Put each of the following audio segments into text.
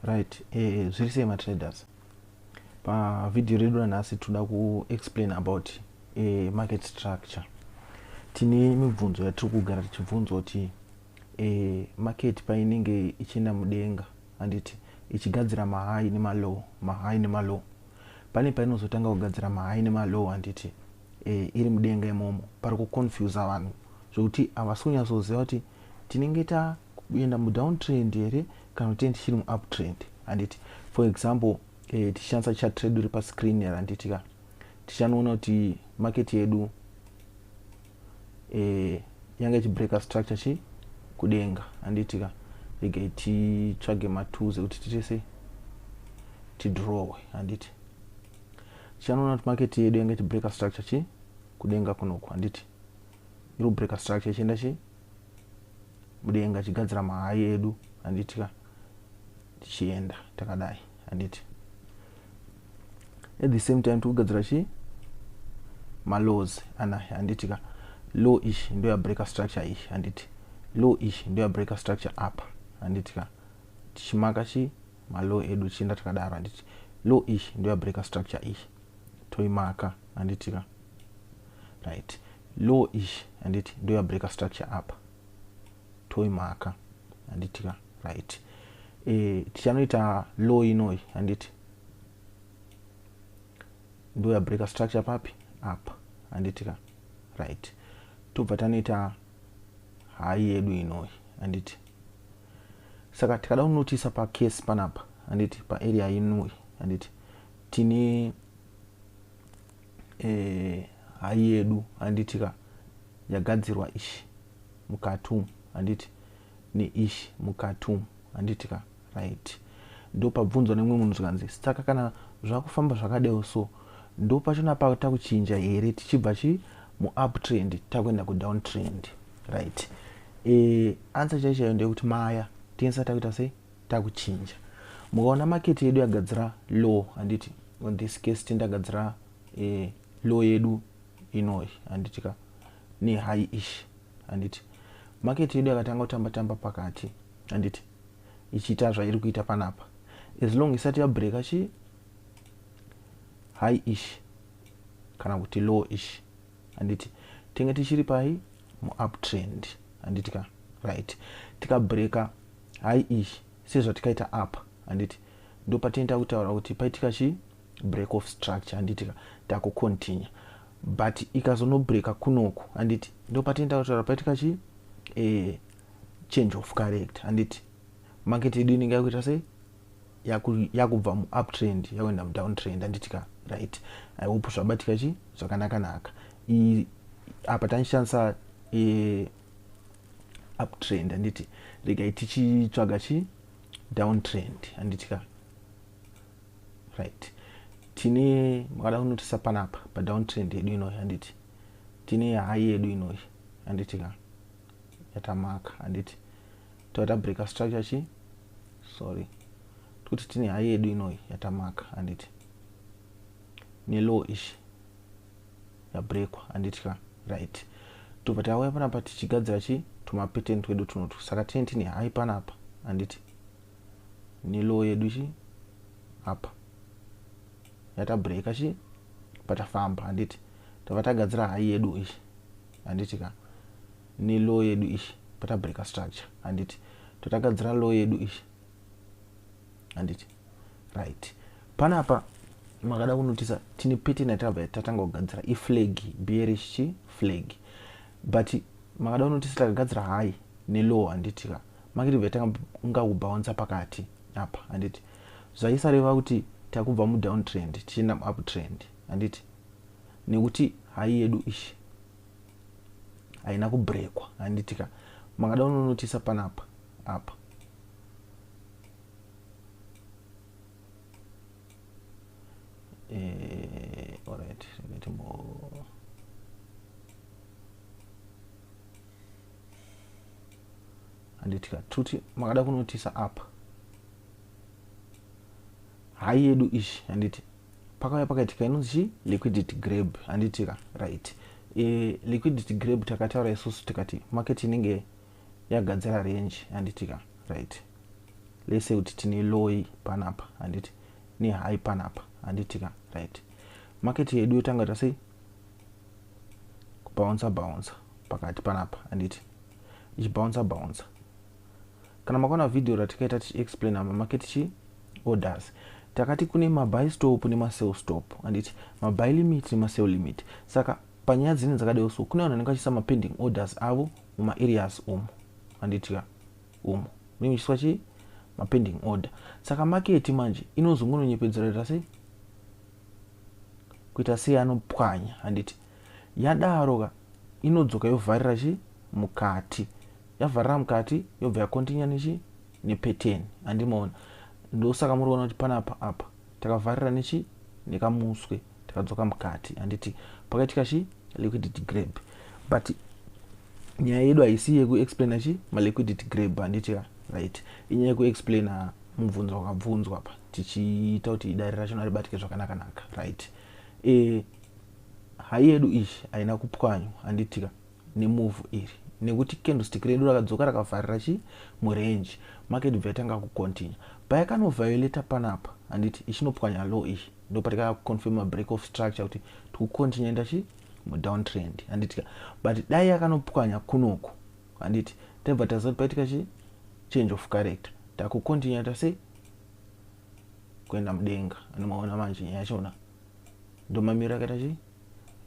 right eh, zviri sei matraders pavhidhiyo redu ranhasi tinoda kuexplain about eh, market structure tine mibvunzo yatiri kugara tichibvunzwa kuti eh, market painenge ichienda mudenga handiti ichigadzira mahai nemalow mahai nemalow pane painozotanga kugadzira mahai nemalow handiti eh, iri mudenga imomo pari kuconfusa vanhu zvekuti havasi kunyatsoziva kuti tinenge ta kuenda mudown trend here kana kuti tiri muup trend handiti for example eh, tichishandisa chat redu iri pascreen here handiti ka tichanoona kuti market yedu eh, yanga ichibreaker structure chi kudenga handiti ka regai titsvage matools ekuti titese tidrowe handiti tichanoona kuti market yedu yanga ichibreaker structure chi kudenga kunoku handiti irikubreaker structure ichienda chii mudenga achigadzira mahai edu handiti ka tichienda takadai handiti at the same time tikugadzira chii malaws ana handiti ka low ish ndo yabreaker structure ish handiti low ish ndo yabreaker structure apa handiti ka tichimaka chii malow edu chienda takadaro handiti low ish ndo yabreaker structure ish toimaka handiti ka right low ish handiti ndoya breaker structure apa toimaka handiti ka right e, tichanoita low inoi handiti ndoya breaker structure papi apa handiti ka right tobva tanoita hayi yedu inoi handiti saka tikada kunotisa pacase panapa handiti paarea inoi handiti tine eh, hai yedu handiti ka yagadzirwa ishi mukati umu handiti neishi mukati umu handiti ka right ndopabvunzwa nemumwe munhu zvikanzi saka kana zvakufamba zvakadeo so ndo pachona patakuchinja here tichibva chi muuptrend takuenda kudown trend right e, eh, ansa chaichayo ndeyekuti maya tiensa takuita sei takuchinja mukaona market yedu yagadzira low handiti on this case tindagadzira eh, low yedu inoyi handiti ka ne high ish handiti market yedu yakatanga kutamba tamba pakati handiti ichiita zvairi kuita panapa as long isati yabreaka chi high ish kana kuti low ish handiti tenge tichiri pai muuptrend handiti ka right tikabreaka Hai ish sezvatikaita apa handiti ndopatinoita kutaura kuti paitika chi break of structure handiti ka takucontinue but ikazonobreaka kunoku handiti ndopatinoita kutaura paitika chi eh, change of character handiti market yedu inenge yakuita sei yakubva muuptrend yakuenda mudowntrend handiti ka right i hope zvabatika chi zvakanakanaka apa tanishandisa eh, uptrend handiti regai tichitsvaga chi downtrend handiti ka right tine makada kunotisa panapa padowntrend yedu inoyi handiti tine hayi yedu inoyi handiti ka yatamaka handiti toita breaker structure chi sorry tikuti tine hayi yedu inoyi yatamaka handiti nelow ishi yabrekwa handitya right tobva tauya panapa tichigadzira chi tumapeten twedu tunotu saka tine tini hai panapa handiti nelow yedu chi apa yatabreaka chi patafamba handiti tava tagadzira hai yedu ichi handiti ka nelow yedu ichi patabreaka structure handiti totakadzira low yedu ichi handiti right panapa makada kunotisa tine pattern yatakabva tatanga kugadzira iflag bearish chi flag but makada kunotisa takagadzira high nelow handiti ka makiti bva tanga kunga kubaunsa pakati apa handiti zvaisareva kuti takubva mudown trend tichienda muup trend handiti nekuti hai yedu ishi haina kubrekwa handiti ka makada kunonotisa panapa apa eh, all right let me anditika tuti makada kunotisa apa hai yedu ishi handiti pakauya pakaitika inonzi chii liquidity grab handitika right e, liquidity grab takataura isusu tikati market inenge yagadzira range handiti ka right let's say kuti tine loy panapa handiti ne high panapa handiti ka right market yedu yotanga ta sei kubouncer bouncer pakati panapa handiti ichibouncer bouncer kana makaona video ratikaita tichiexplaina mamarket chi orders takati kune mabuy stop nemasell stop handiti mabuy limit nemasell limit saka panyaya dzine dzakadai so kune vanhu vanenge vachiisa mapending orders avo muma areas umu manditya umu munenge muchiiswa chii mapending order saka maketi manje inozongononyepedzera ita sei kuita sei anopwanya handiti yadaro ka inodzoka yovharira chii mukati yavharira mukati yobva yakontinya nechii nepeteni handimaona ndosaka muriona kuti panapa apa takavharira nechi nekamuswe tikadzoka mukati handiti pakaitika chi liquidity grab but nyaya yedu haisi yekuexplaina chi maliquidity grab handiti ka right inyaya yekuexplaina mubvunzo wakabvunzwa apa tichiita kuti idare racho naribatike zvakanakanaka right e, hai yedu iyi haina kupwanywa handitika nemuvhu iri nekuti candlestick redu rakadzoka rakavharira chi murange market bva yatanga kucontinue payakanoviolata panapa handiti ichinopwanya low iyi ndopatikaya kuconfirma break of structure kuti tikucontinue enda chi mudowntrend handitika but dai yakanopwanya kunoku handiti taibva taziva kuti paitika chi change of character takucontinue ta sei kuenda mudenga anomaona manje nyaya yachona ndomamiriro akaita chii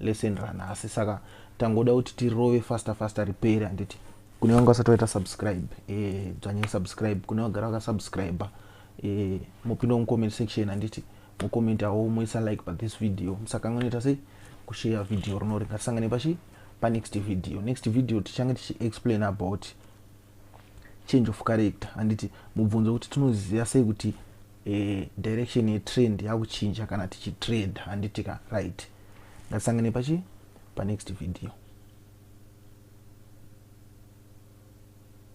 lesson ranhasi saka tangoda kuti tirove faster faster riperi handiti kune vanga vasati vaita subscribe eh, dzvanyai e, subscribe kune vagara vakasubscribe e, eh, mopinda mucomment section handiti mucomentawo moisa like pa this video musakanganoita sei kushare video rinori ngatisangane pachi panext video next video tichange tichiexplain about change of character handiti mubvunzo kuti tinoziva sei kuti eh, direction yetrend yakuchinja kana tichitrade handiti ka right ngatisangane pachi panext video